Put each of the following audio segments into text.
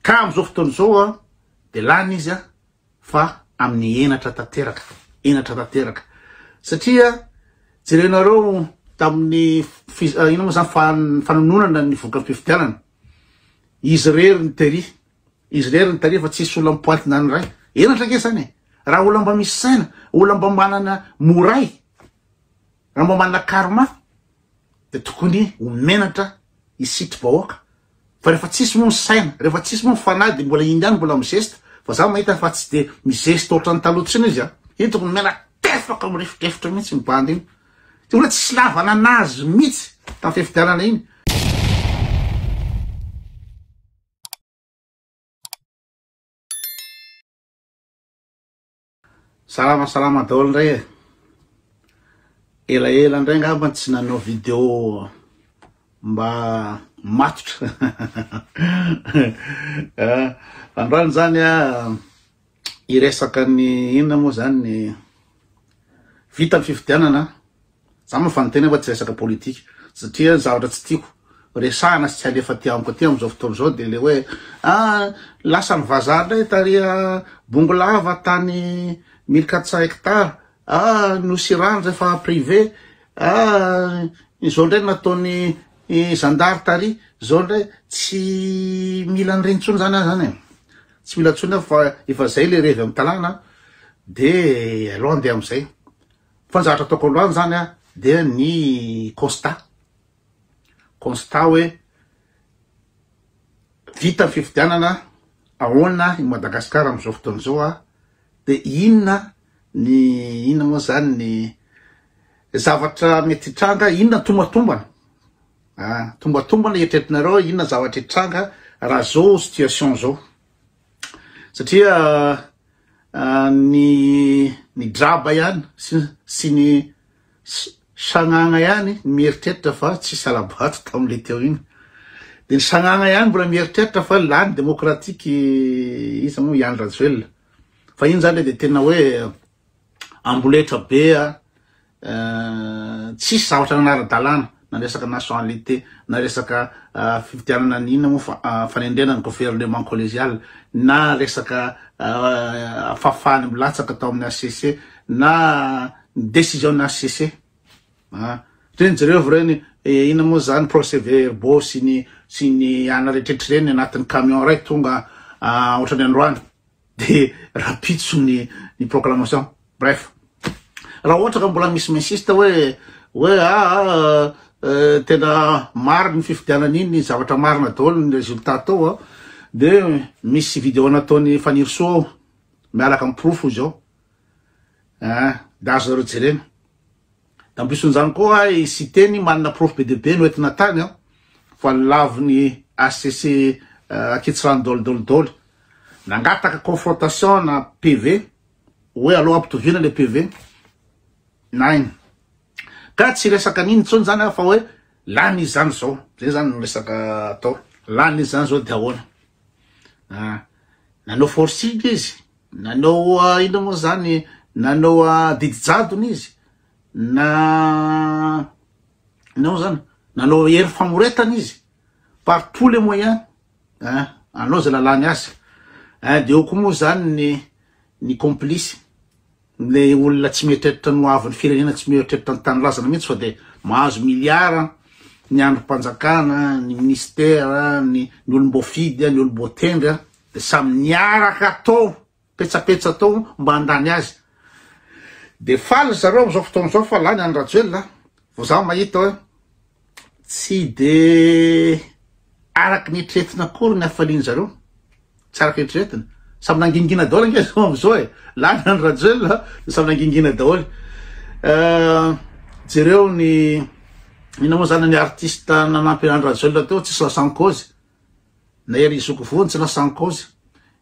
Ka amin'izao fotoana izao dia lany izy fa amin'ny henatra tanteraka, henatra tanteraka. Satria jerenareo tamin'ny fiz, inona moa izany, fa, fanononana ny vokam-pifidianana. Izy irery ny tery, izy irery ny tery fa tsisy olona mipointina ny iray. Henatra ange izany e. Raha olona mba misy saina, olona mba manana moray, raha mba manana karma, dia tokony ho menatra hisitry bahoaka fa rehefa tsisy moa ny saina rehefa tsisy moa ny fanahy dia mbola iny ihany mbola mizesta fa za mahita fa tsy dia mizesta ohatran'ny taloha tsiny izy an iny tokony mena tefaka mirefotrefitra mihitsy ny bandy iny dia olona tsisy lavana anazy mihitsy tamin'ny fifidianana iny Salama salama daholo indray e Ela ela indray ngamba tsy nanao vidéo mba matotra ah, Androany izany a hiresaka ny inona moa izany ny vita ny fifidianana Za mafana tena fa tsy resaka politika satria ny zavatra tsy tiako resahana sy tsy alefa aty amiko aty amizao fotoana izao dia le hoe ah lasan'ny vazaha indray tary Bongolava tany mille quatre cents hectares ah Nosy Irano rehefa privé ah izao indray nataon'ny zandary tary izao indray tsy mila an'ireny intsony zany ah zany e tsy mila intsony aho fa efa zay le revy amin'ny tanàna dia aleo andeha amin'izay. Fa ny zavatra ataoko aloany zany a dia ny constat, constat hoe vita ny fifidianana ahoana i Madagascar amzao fotoana zao a de inona ny inona moa zany ny zavatra mety hitranga inona tombantombana a tombantombana eritreretinareo inona zavatra hitranga raha zao situation zao. satria ny ny draba ihany sy ny sagnagna ihany mieritreritra fa tsy salabato tamin'ilay teo iny dia ny sagnagna ihany mbola mieritreritra fa lany demokratika iza moa i Andry Rajoelina fa iny zany dia tena hoe amboletra be a, tsisy zavatra nanara-dalàna na resaka nationalité na resaka fifidianana ny inona moa fa fanendrena ny gouvernement collégial na resaka fahafahany milatsaka tao amin'ny HCC na ny décision ny HCC ah reny jereo reny inona moa zany procès verbo sy ny sy ny ana rehetrehtra reny anatin'ny camion ray tonga ohatrany androany de rapitso ny ny proclamation bref raha ohatra ka mbola misy mensiste hoe hoe aa tena maro ny fifidianana iny zavatra marina daholo ny résultat tao a de misy vidéo nataony fanirisoa ao miaraka amin'ny porofo izao a de azonareo jerena Nampisoan'izany koa i Siteny manana porofo be dia be noentina tany an, fa ny lavon'ny hcc Ankitsirano Dôly Dôly Dôly. Nangataka confrontation na PV, hoe aleo ampitoviana ilay PV. Nain. Ka tsy resaka an'iny intsony izany an, fa hoe lany izy izany izao. Izay izany no resaka atao. Lany izy izany izao dia ahoana? An, nanao forcing izy. Nanao inona moa izany? Nanao didy jadona izy, na inona moa izany? Nanao hery famoretana izy, par tous les moyens, eh, anao izay lalàny azy. Eh, dia eo koa moa izany ny ny complice, le olona tsy mieritreritra ny ho avin'ny firenena, tsy mieritreritra ny tanindrazana mihitsy fa dia mahazo miliara ny andrim-panjakana, ny ministera, ny ny olom-boafidy, ny olom-boatendry. Dia samy niaraka tao petsapetsa tao mba handany azy. Dia faly ry zareo amin'izao fotoana izao fa lany an'i Rajoelina. Vao za mahita hoe tsy dia araka ny eritreretina akory ny hafalian'i zareo. Tsy araka ny eritreretina. Samy nangingina daholo ange zao amin'izao e. Lany an'i Rajoelina dia samy nangingina daholo. Euh, jereo ny inona moa zany ny artiste nanampy an'i Rajoelina teo tsisy lasan-kaozy. Na ery zoky voa no tsy lasa en cause.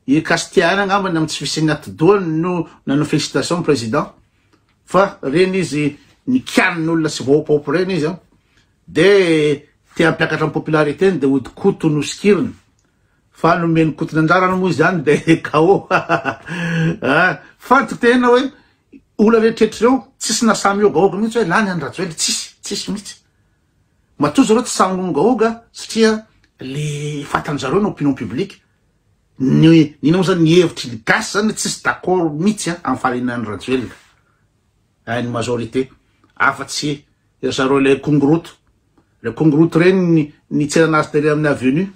I Castia ihany angambany amin'ny tsy fisian'ny atidohany no nanao félicitation ny président fa reny izy nikianina olona sy vahopaopa reny izy an. De te hampiakatra ny popularité-ny de hody Koto no sikiriny. Fa nomen'i Koto ny anjarany moa izany de KO. Ah! Fantiko tena hoe olona rehetrrehetra ireo tsisy nahasahy mihogahoga mihitsy hoe lany an'i Rajoelina, tsisy, tsisy mihitsy. Matoa zareo tsy sahy miongaonga satria le fatan'ny zareo ny opinion publique ny ny ino mo zany ny hevitry ny gasy zany tsisy d'accord mitsy a am fahalinan'i Rajoelina eh ny majorité afa tsy ry zareo le kongoroto le kongoroto reny ny ny tsenana azy tery amin'ny avenue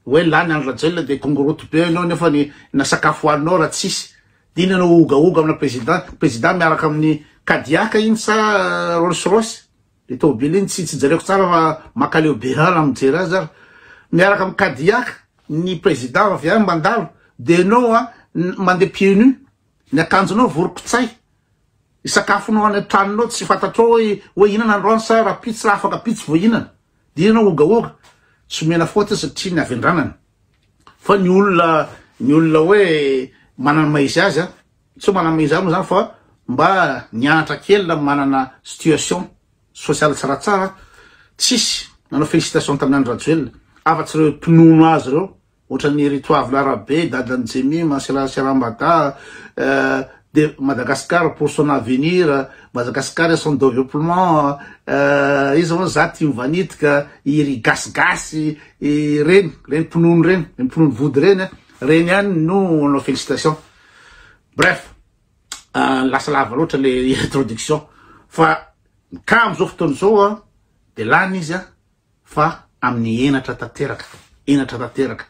hoe lany andry Rajoelina de kongoroto be enao nefa ny na sakafo hoaninao raha tsisy dina enao hogahoga amina président président miaraka amin'ny kadiaka iny sa rolls royce Le tôbily iny tsy tsy jereko tsara fa makaleo be ra raha mijery azy aho. Miaraka am kadiaka ny président avy any mandalo de enao a mandeha pied nu ny akanjonao vorokitsay ny sakafonao any antranonao tsy fantatrao hoe hoe hihinana androany sa raha pizza raha afaka pizza vao hihinana de enao ogaoga tsy omena faute satria ny avy andranany fa ny olona ny olona hoe manana maha izy azy a. Tsy maname izany moa izany fa mba nianatra kely na manana situation social tsy raha tsara tsisy nanao félicitation tamin'i Andry Rajoelina afa-tsy ireo mpinono azy ireo ohatran'i Ritoavina Rabe, dadan'i Jemima, Sera Serambada, de Madagascar pour son avenir, Madagascar et son developpement, iza moa za tia mivanitika, i ry gasigasy, ireny, ireny mpinono ireny, ireny mpinono vody ireny, ireny ihany no nanao félicitation. Bref, lasa lava loatra le introduction fa ka am'zao fotoana zao a de lany izy a fa amin'ny henatra tanteraka, henatra tanteraka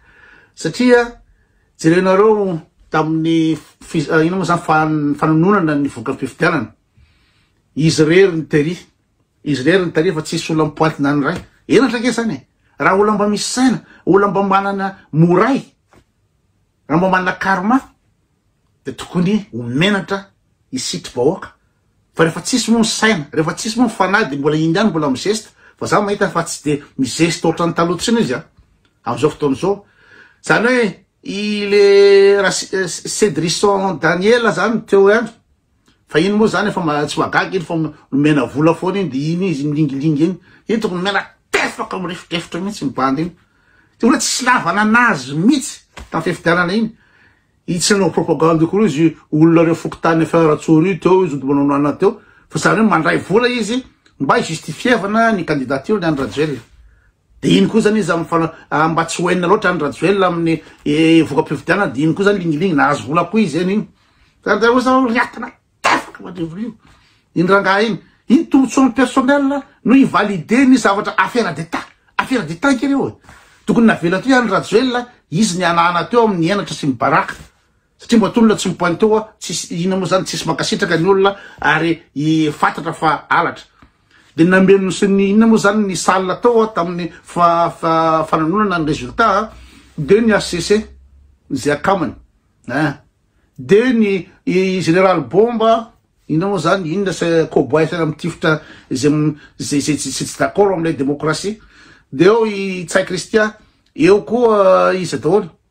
satria jerenareo tamin'ny fiz- ah, ino moa zany fan- fanononana ny voka-pifidianana izy rery ny tery izy rery ny tery fa tsisy olona mipointina ny ray henatra ke zany e raha olona mba misy saina olona mba manana moray Raha mba manana karma dia tokony ho menatra i sitry bahoaka fa rehefa tsisy moa ny saina, rehefa tsisy moa ny fanahy dia mbola iny ihany mbola mizesta fa za mahita fa tsy dia mizesta ohatran'ny taloha tsiny izy an! amin'izao fotoana izao zany hoe i le ra cedrison daniela zany teo ihany Fa iny moa zany efa ma- tsy mahagaga iny fa nomena vola foana iny de iny izy milingilingy iny. Iny tokony nomena tefaka mirefodrefotra mihitsy ny bandy iny. De olona tsy lavana anazy mihitsy tamin'ny fifidianana iny. Iny tsy nanao propagande io koa izy olona reo fokontany efa Ratsoro io teo izy mbola nanao anona teo fa zany hoe mandray vola izy mba hi-justifievana ny candidature ny an'i Rajoelina. Dia iny koa zany izy amin'ny mba tsy ho hainina loatra Andry Rajoelina amin'ny voka-pifidianana dia iny koa zany lingilingy nahazo vola koa izy zany iny. Zany dia hoy zao riatana tefatra madrivorio iny rangahy iny. Iny tombontsoan'ny personnel no hi-valider ny zavatra affaire d'Etat. Affaire d'Etat ankera io e. Tokony navela teo i Andry Rajoelina izy ny hanahana teo amin'ny henatra sy ny baraka. Satria mba tolona tsy mipointe oa tsisy inona moa zany tsisy mankasitraka ny olona ary i fatatra fa halatra de nameno sy ny inona moa zany ny salle tao a tamin'ny fa fa fananonana ny resultat a de ny HCC zay akamany a de ny i général bomba inona moa zany inona sy cowboy fiainana mitifitra zay m- zay zay tsy tsy d'accord am'ilay démocratie de eo i tsay christian eo koa iza daholo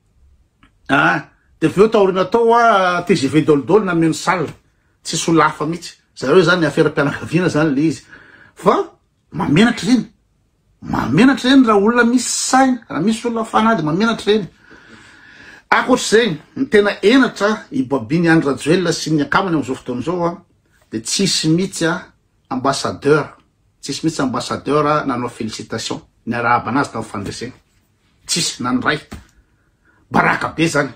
ah de avy eo taoriana tao a tgv dolidoly nanome ny salle tsy solafa mihitsy zareo zany aferam-pianakaviana zany le izy fa mamenatra ireny mamenatra ireny raha olona misy saina raha misy olona fanady mamenatra ireny akoatr'izay ny tena enatra i babiny andry rajoelina sy ny akamany amin'izao fotoana izao a de tsisy mihitsy a ambassadeur tsisy mihitsy ambassadeur nanao félicitation niarahaba anazy tamin'ny fandresena Tsisy nandray. Baraka be zany.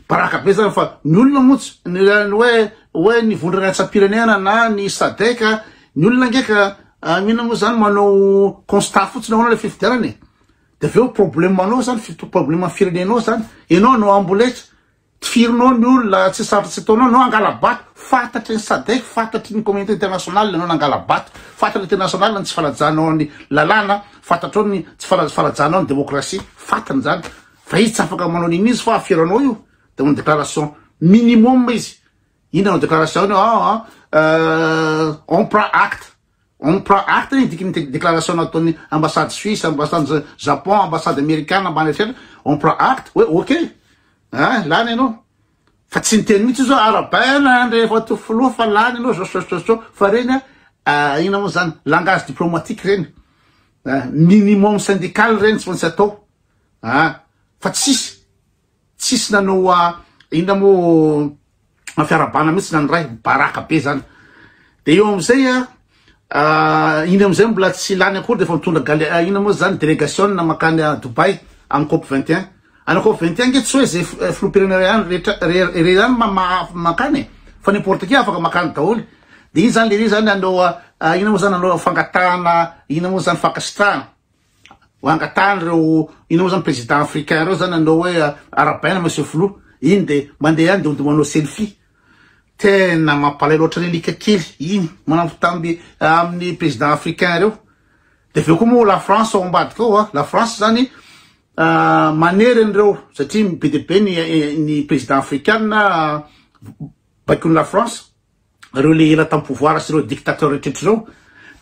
Baraka be zany fa ny olona moa tsy ny hoe hoe ny vondrona ratsam-pirenena na ny SADEC ny olona ngeka ah, mino moa zany manao constat fotsiny ahoana le fifidianana e. Dia avy eo problème anao zany fito problème firenenao zany. Ianao no amboletra. Tifirinao ny olona tsy sambatra tsy ataonao no hangala-bato, fantatry ny sadec, fantatry ny communauté internationale ianao nangala-bato, fantatry ny internationale ny tsy fanajanao ny lalàna, fantatrao ny tsy fanajanao ny démocratie, fantany izany, fa izy tsy afaka manao an'iny izy fa aferanao io, dia manao déclaration minimum izy, inona no déclaration-ny, ah ah, euh, on prend acte, On prend acte ny diky ny déclaration nataon'ny ambassade suisse, ambassade Japon, ambassade amerikana ambany rehetra, on prend acte hoe ok ah lany ianao fa tsy niteny mihitsy zao arabaina rehefa to filoha fa lany ianao zao zao zao zao fa reny ah ina moa zany langage diplomatique reny ah minimum syndical reny tsy maintsy atao ah fa tsisy Tsisy nanao a inona moa fiarabana mihitsy na ny ray baraka be zany de eo amizay a iny amizay mbola tsy lany akory de efa mitondra gale inona moa zany delegation makany a Dubaï aminy cop vingt et un any cop vingt et un nge tsy hoe ze filoham-pirenena ray any rehetra rehetra ihany makany e fa n'importe qui afaka makany daholo de iny zany lehilahy zany hanao a inona moa zany hanao fangatahana inona moa zany fankasitrahana Ho angatahany reo inona moa zany président africain reo zany anao hoe arabaina monsieur filoha iny de mandeha any de ho manao selfie tena mampalay loatra ny alika kely iny mampitamby amin'ny président africain reo de avy eo koa moa la France ao ambadika ao la France zany ah, manery an'ireo satria be de be ny eh, ny président africain ah, baikon'i la France reo le ela tam pouvoir sy reo dictateur retretra reo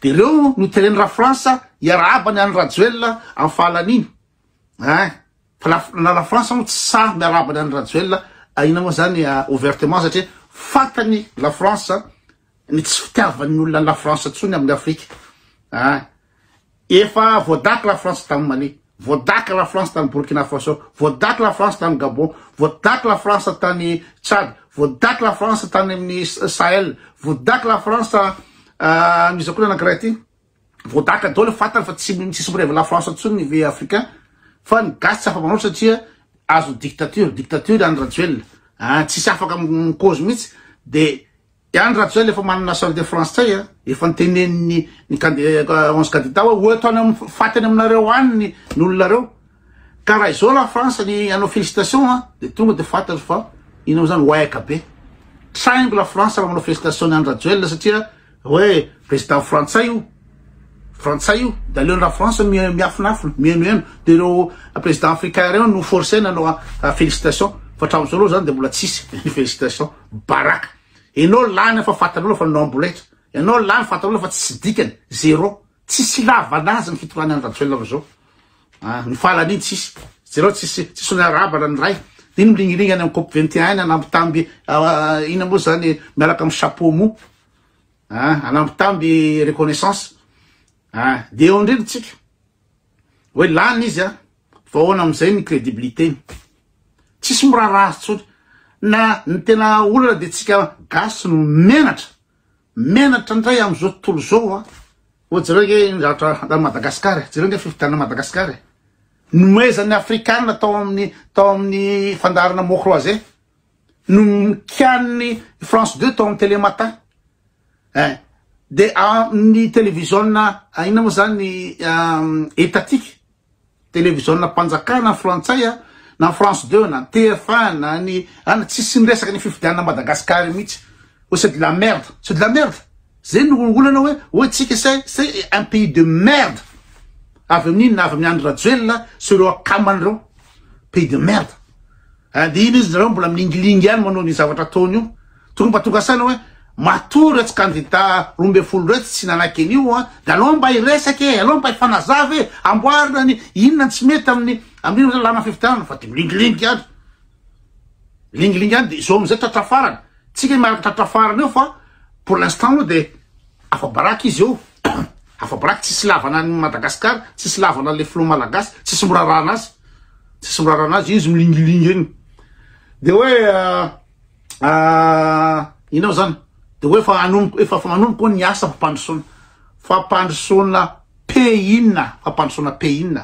de reo no teren ra France hiarahaba ny any Rajoelina am fahalaniny hein fa la na la France mo tsy sahy miarahaba ny any Rajoelina ahina mo zany ouvertement satria fantany la France ny tsy fitiavan'ny olona la France tsony amin'ny Afrique hein Efa voadaky la France tany Mali, voadaky la France tany Burkina Faso, voadaky la France tany Gabon, voadaky la France tany Tchad, voadaky la France tany amin'ny Sahel, voadaky la France amin'izao koa anankiray ity, voadaka daholo fantany fa tsy tsisy mirevy la France intsony ny ve africain fa ny gasy tsy afa-manao satria azo dictature, dictature any Rajoelina, ah, tsisy afaka mikozy mihitsy de Iany raha tsy zay le efa manana salle de France tsay a, efa ntenenin'ny ny onze candidats hoe ho eto any am faty any aminareo any ny ny olona reo, ka raha izao la France ny anao félicitation a de tonga de fantatro fa ino amzany waika be, traingo la France raha manao félicitation ny Andry Rajoelina satria hoe président frantsay io. Frantsay io, de aleony la France miafinafina, mienoeno, de ireo président africain reo no forcer nanao félicitation, fa hatramizao aloha zany de mbola tsisy félicitation, baraka, enao lany fa fantanao fa nanao amboletra, enao lany fantanao fa tsisy dikany, zéro, tsisy ilavana azy ny fitondrany any Rajoelina amizao, ah, ny fahalany iny tsisy, jereo tsisy, tsisy ny arabana ny ray, de iny milingilingy any am cop 21 any anambitamby, ah, ina moa zany miaraka am chapeau mou, ah hanampy tamby reconnaissance ah de eo indrindra tsika hoe lany izy ah fa ahoana amin'izay ny crédibilité-ny tsisy miraharaha azy tsony na ny tena olana de tsika gasy no menatra menatra indray amin'izao tontolo zao ah ho jereo nge ny zavatra handany Madagascar jereo nge fifidianana Madagascar e nomezan'ny afrikana tao amin'ny tao amin'ny fandaharana mot croisé no nikian'ny France Deux tao amin'ny télé matin eh, de amin'ny televiziona ah, inona moa zany etatika ah, televiziona mpanjakana frantsay a ah, na France Deux na TF1 na ny ana tsisy miresaka ny fifidianana Madagascar mihitsy oh c'est de la merde c'est de la merde Zay no olana hoe hoe tsika c'est c'est un pays de merde avy amin inona avy amin Andry Rajoelina sy ireo akamany ireo pays de merde and iny izy nareo mbola milingilingy ihany manao ny zavatra ataony io tokony mba tonga saina hoe matoa iretsy kandida roa ambin'ny folo iretsy tsy nanaiky an'io a de alao mba hiresaka e alao mba hifanazava e amboarina ny inona ny tsy mety amin'ny amin'ny lalàna fifidianana fa de milingilingy ihany Lingilingy any dia izao amin'izay tratra farany. Tsy kay miaraka tratra farany eo fa pour l'instant aloha dia afa-baraky izy eo. Afa-baraky tsisy ilavana an'i Madagascar, tsisy ilavana an'ilay filoha malagasy, tsisy mirarana azy. Tsisy mirarana azy, izy milingilingy eny. Dia hoe inona moa zany? Dia hoe efa hanomboka, efa manomboka hono ny asa fampandrosoana, fampandrosoana. Pehin, fampandrosoana Pehin.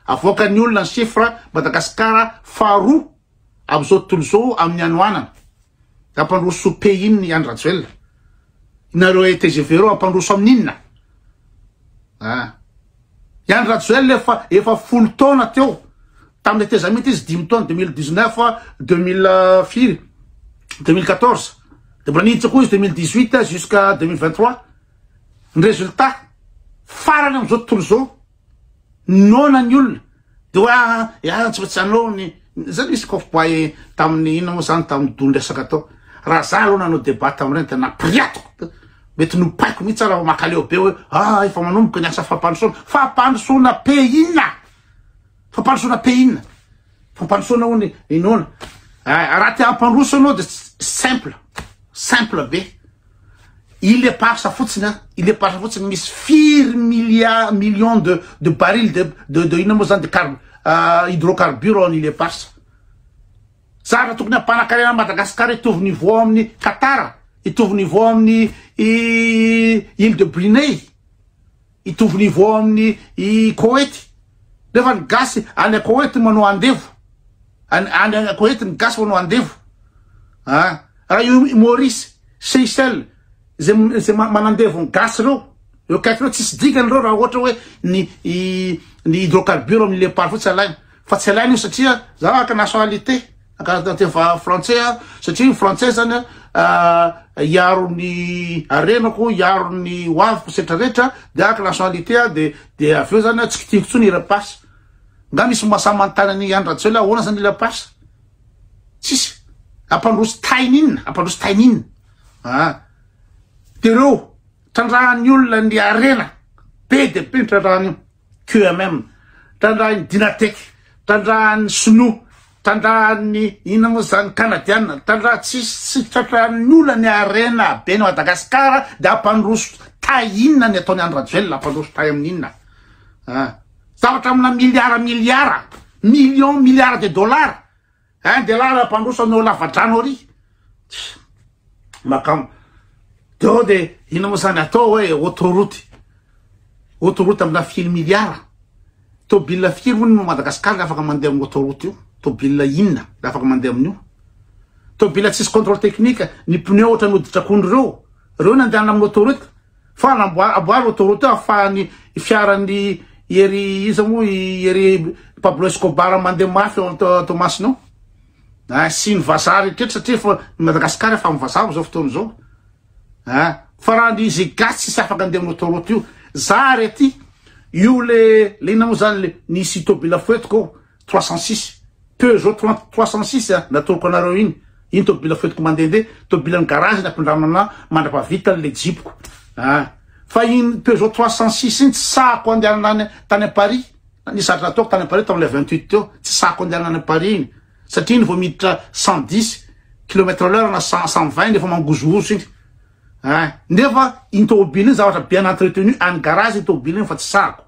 Avoakan'ny olona ny chiffre, Madagasikara faharoa amin'izao tontolo izao amin'ny hanoanana. Hampandroso Pehin i Andry Rajoelina. Nareo tgv reo hampandroso amin'ny inona? Ah. I Andry Rajoelina efa, efa folo taona teo. Tamin'ny tetezamita izy dimy taona 2019, 2000 firy? 2014. Dia mbola niditra koa izy 2018 jusqu'à 2023. Ny résultat farany amin'izao tontolo izao, noana ny olona, dia hoe ah ah tsy maintsy hanao ny, izay nisy cowboy tamin'ny inona moa izany tamin'ny doly resaka tao, raha za aloha nanao débat tamin'ireny dia napiriatiko, mety nopaiko mihitsy aho raha vao makaleo be hoe ah efa manomboka ny asa fampandrosoana, fampandrosoana pays inona? Fampandrosoana pays inona? Fampandrosoana hono inoana. Ah, raha te hampandroso anao de simple. Simple be. Il est parsa fotsiny an. Il est parsa fotsiny misy firy milliards millions de de barils de de de inona moa zany de car uh, hydrocarbures en il est parsa. Zara tokony hampanakarena an'i Madagasikara hitovy niveau amin'ny Qatar, hitovy niveau amin'ny île de Brunei. Hitovy niveau aminy i Koety nefa ny gasy any Koety manao andevo any any Koety ny gasy manao andevo ah raha io Maurice Seychelles ze ze manandevo ny gasy reo eo akaiky reo tsisy dikany reo raha ohatra hoe ny ny hydrocarbure amin'ny lepar fotsy alaina fa tsy alaina io satria za araka nationalité Ankaratra tefa frantsay aho satria ny frantsay zany a ah, hiaro ny arenako hiaro ny hoaviko setra rehetra de araka nationalité a de de avy eo zany a tsy kitihiko tsony i rapasy nga misy masamantany an'i andra tsy hoe la ahoana zany i rapasy tsisy ampandroso tainy inona ampandroso tainy inona a ah. de reo trandrahan'ny olona ny arena be de be ny trandrahan'io QMM, trandrahan'ny Dynatec, trandrahan'ny Sinoa, trandrahan'ny inona moa izany, Kanadiana, trandraha tsisy tsy tratran'ny olona ny harena ben'i Madagasikara dia hampandroso tay inona ny ataon'i Andry Rajoelina, hampandroso tay amin'ny inona an? Zavatra amina miliara miliara, millions, milliards de dollars Hein de là raha mpandroso anao lavadrano ary makama deo de ino mo zany atao hoe autoroute autoroute amina firy milliard tobile firy hono no Madagascar le afaka mandeha amin'ny autoroute io tobile inona le afaka mandeha amin'io tobile tsisy contrôle technique ny pneu ohatra ny hoditr'akondro reo reo nandehanana amin'ny autoroute Fa anamboa amboaro autoroute afahan'ny fiaran'ny ery iza moa i ery Pablo Escobar mandeha mafy ao Toamasina ao. Ah, sy ny vazaha rehetra satria efa ny Madagascar efa amin'ny vazaha amin'izao fotoana izao. Ah, fa raha ny izy gasy tsisy afaka andeha amin'ny autoroute io. Za ary aty io le le inona moa zany le nisy tobila foetiko ao. trois cent six Peugeot trente trois cent six a natoroko anareo iny iny tobila foentiko mandehandeha tobilan'ny garage ny ampindramina anah mandrapavita ny le jipoko a fa iny Peugeot trois cent six iny tsy sahako andehanana any tany à Paris nisy ady nataoko tany à Paris tamin'ilay vingt huit teo tsy sahako andehanana any à Paris iny satria iny vao miditra cent dix kilomètre à l'heure na cent cent vingt iny efa mangozohozo iny a nefa iny tobila iny zavatra bien entretenu any garage iny tobila iny fa tsy sahako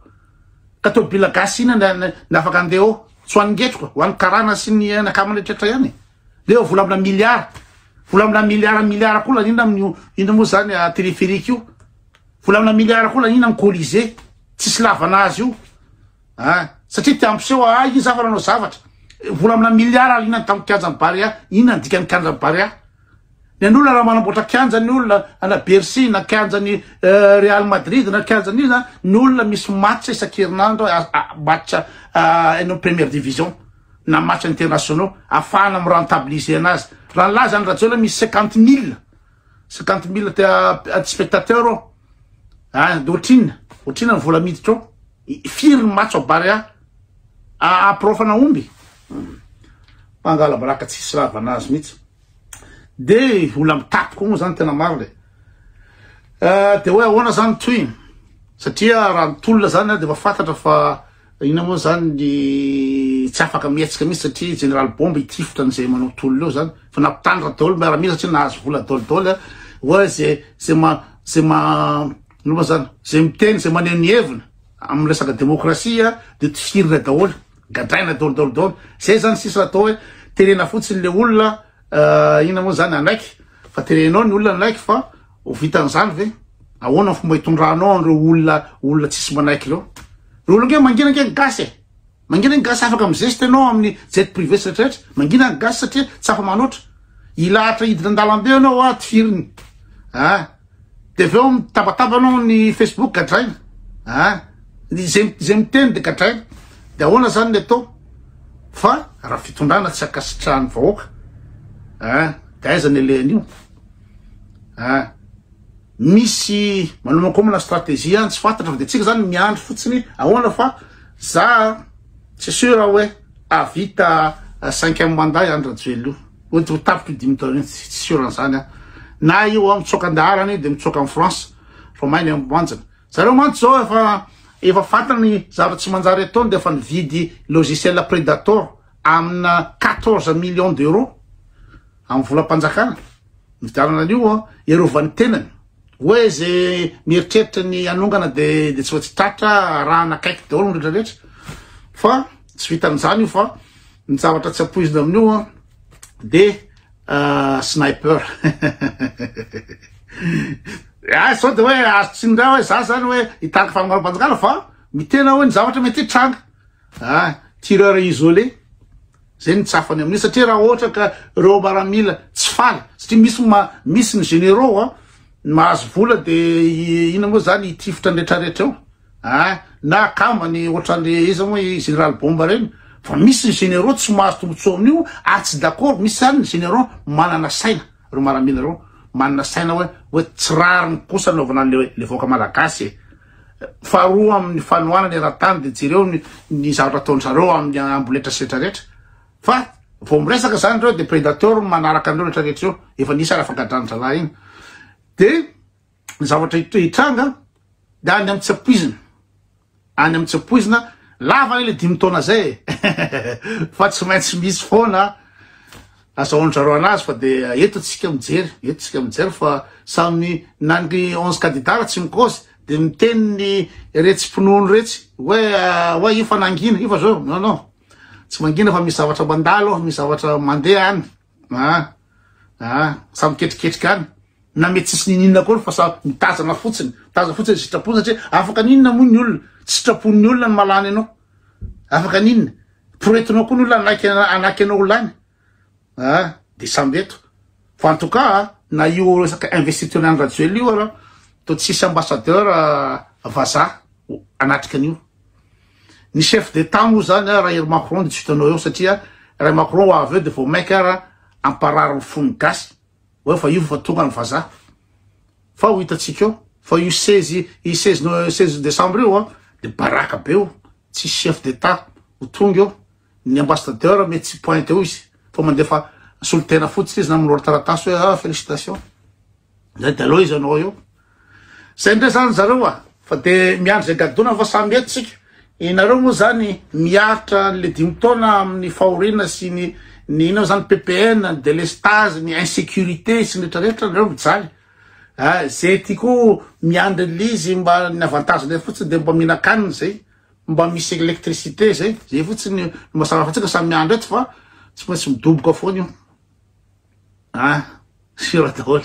Ka tôbila gasy ina ny afaka andeha eo? Tsy ho an'ny ngetroka, ho an'ny karana sy ny anakama rehetrretra ihany e! Ndreo eo vola amina miliara, vola amina miliara miliara koa laniana amin'io ino moa zany téléphérique io, vola amina miliara koa laniana amin'ny colisée tsisy lavana azy io ah! Satria te hampiseho ah izy aho fa nanao zavatra, vola amina miliara laniana tamin'ny kianjan'ny Barea, inona ny dikan'ny kianjan'ny Barea? Ny an'olona raha manamboatra kianja ny olona ana Bercy na kianja ny euh, Real Madrid na kianja ny iza ny olona misy match isan-kerinandro match euh, any première division na match internationaux afahana amin'ny rentabiliser anazy raha ny laza ny rajoela misy cinquante mille cinquante mille te euh, spectateur ao ah, de ohatrina ohatrina ny vola miditra ao firy ny match ao barea apirofana omby hmm. mangala baraka tsisy ravana azy mihitsy Dia olona mitaky koa moa zany tena marina e. Eh, dia hoe ahoana zany ny tohiny? Satria raha ny tolona zany dia efa fantatra fa ina moa zany ny tsy afaka mihetsika mihitsy satria général bombe itifitra an'izay manao tolona eo zany fa nampitandra daholo miaramila satria nahazo vola daholo daholo eh. hoe zay zay ma zay ma ino moa zany zay miteny zay maneho ny heviny amin'ny resaka demokrasia dia tifirina daholo. Gadraina dol dol dol. Zay zany sisa atao hoe terena fotsiny le olona euh, ina moa zany anaiky fa terenao ny olona anaiky fa ho vitan'izany ve? Ahoana fomba hitondranao an'ireo olona olona tsisy manaiky ireo? Ireo olona nge mangina nge ny gasy e. Mangina ny gasy afaka mizesta ianao amin'ny jet privé sy rehetrarehetra. Mangina ny gasy satria tsy afa-manoatra. Ilahatra hidina an-dalambe ianao aho tifiriny. Ah, de avy eo mitabataba anao ny facebook gadraina a ah, ny zay zay miteny de gadraina de ahoana zany ny atao fa raha fitondrana tsy ankasitrahan'ny vahoaka a ah, de aiza ny alehan'io a ah, misy manomankomana stratégie any tsy fantatra fa de tsika zany miandry fotsiny ahoana fa za tsy sûr hoe avita cinquième mandat i Andry Rajoelina io Mety ho tapitra io dimy taona io, tsy tsy sûr an'izany aho. Na io aho mitsoaka an-daharana io dia mitsoaka an'i France fa may ny amin'ny banjina. Zareo mantsy izao efa efa fantany ny zavatra tsy manjary ataony dia efa nividy logiciel Predator amina 14 millions d'euros amin'ny volam-panjakana. Nividianana an'io hiarovany ny tenany. Oe ze mieritreritra ny hanongana de de tsy maintsy tratra arahana akaiky daholo ny rehetra rehetra fa tsy vitan'izany io fa ny zavatra tsy ampoizina amin'io an de ah, sniper ah sao de hoe azo tsindray hoe za zany hoe hitarika fanomboham-panjakana fa mitena hoe ny zavatra mety hitranga Ah! Tireur isolé zay ny tsafany amin'io satria raha ohatra ka reo maramila tsy faly satria misy ma misy ny généraux an ny mahazo vola de ina moa zany hitifitra ny retraretra eo ah na akambany ohatran'le iza moa i général bomba reny fa misy ny généraux tsy mahazo tombotsoa amin'io ary tsy d'accord misy zany ny généraux manana saina reo maramila reo manana saina hoe hoe tsy rariny kosa anaovana an'le le vahoaka malagasy e Faharoa amin'ny fanohanana eran-tany dia jereo ny zavatra ataon-dry zareo amin'ny amboletra sy rehetra rehetra. Fa vao miresaka izany ireo dia predateur no manaraka an'ireo rehetra rehetra ireo. Efa nisy ary afagadran'ny zalahy iny. Dia ny zavatra hitranga dia any amin'ny tsy ampoizina. Any amin'ny tsy ampoizina, lava ilay dimy taona izay e. Fa tsy maintsy misy foana Azahoan-dry zareo anazy fa dia eto tsika mijery, eto tsika mijery fa samy na ny onze candidats ary tsy mikaozy dia miteny ny retsy mpinono retsy hoe hoe io fa nangina, io fa zao, non non, tsy mangina fa misy zavatra mandalo, misy zavatra mandeha any, ah ah, samy ketriketrika any, na mety tsisy nininona akory fa samy mitazana fotsiny, mitazana fotsiny sitrapo satria afaka ninona moa ny olona, tsy sitrapon'ny olona no mahalany anao, Afaka an'inona? Poretinao koa ny olona hanaiky hanaky anao ho lany a ah, dia samby eto fa en tout cas na io resaka investiture an'i Rajoelina io arao toa tsisy ambassadeur ah, vazaha anatrika an'io ny chef d'état moa zany ah, raha ery Macron dia tsy hitanao eo satria raha Macron ho avy eo dia vao mainka ara amparary ny fon'ny gasy Oe fa io fa tonga ny vazaha. Fa ho hitantsika eo. Fa io seize i seize no seize décembre io a de baraka be io. Tsisy chef d'Etat ho tonga eo. Ny ambassadeur mety tsy pointe eo izy fa mandefa solotena fotsiny izy na milorotaratasy hoe ah félicitations. Zay de aleo izy anao eo. Zay ndray zany zareo a! Fa de miandry zay gadona fa samy eto tsika. Inareo moa zany miaritra le dimy taona amin'ny fahoriana sy ny ny inona zany PPN, ny délestage, ny insecurité sy ny rehetra rehetra nareo mijaly. A ze ty ko miandry l'izy mba ny avantage ndray fotsiny de mba mihinan-kanina zay. Mba misy électricité zay. Zay fotsiny no mazava fa tsika samy miandry eto fa tsy maintsy midoboka foana io. A! Siora daholo.